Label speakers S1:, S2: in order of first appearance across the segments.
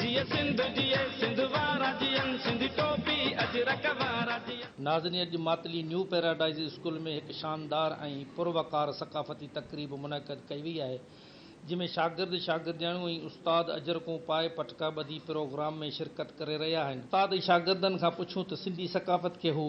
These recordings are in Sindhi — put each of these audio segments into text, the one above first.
S1: جيئي سنڌ جيئي سنڌ وارا جيئن سنڌي ٽوپي اجرڪ وارا جيئن. ناظرين اڄ ماتلي نيو پيراڊائيز اسڪول ۾ هڪ شاندار ۽ پر وقار ثقافتي تقريب منعقد ڪئي وئي آهي جنهن ۾ شاگرد شاگردياڻيون ۽ استاد اجرڪون پائي پٽڪا ٻڌي پروگرام ۾ شرڪت ڪري رهيا آهن. استاد شاگردن کان پڇيون ته سنڌي ثقافت کي هو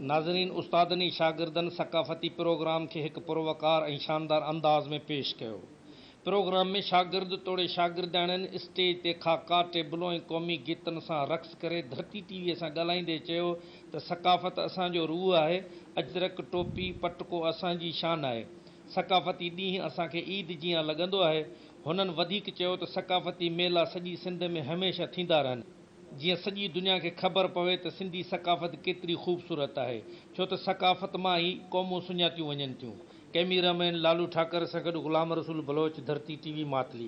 S2: ناظرين استادن
S1: ۽ شاگردن ثقافتي پروگرام کي هڪ پروقار ۽ شاندار انداز ۾ پيش ڪيو. پروگرام ۾ شاگرد توڙي شاگردياڻين اسٽيج تي خاڪا، ٽيبلو ۽ قومي گيتن سان رقص ڪري ڌرتي ٽي وي سان ڳالهائيندي چيو ته ثقافت اسان جو روح آهي، اجرڪ، ٽوپي، پٽڪو اسان جي شان آهي، ثقافتي ڏينهن اسان کي عيد جيان لڳندو آهي. هنن وڌيڪ چيو ته ثقافتي ميلا سڄي سنڌ ۾ هميشه ٿيندا رهن. جيئن سڄي دنيا کي خبر پوي ته سنڌي ثقافت ڪيتري خوبصورت آهي، ڇو ته ثقافت مان ئي قومون سڃاتيون وڃن ٿيون، ڪئميرا مين لالو ٺاڪر سان گڏ غلام رسول بلوچ، ڌرتي ٽي وي ماتلي.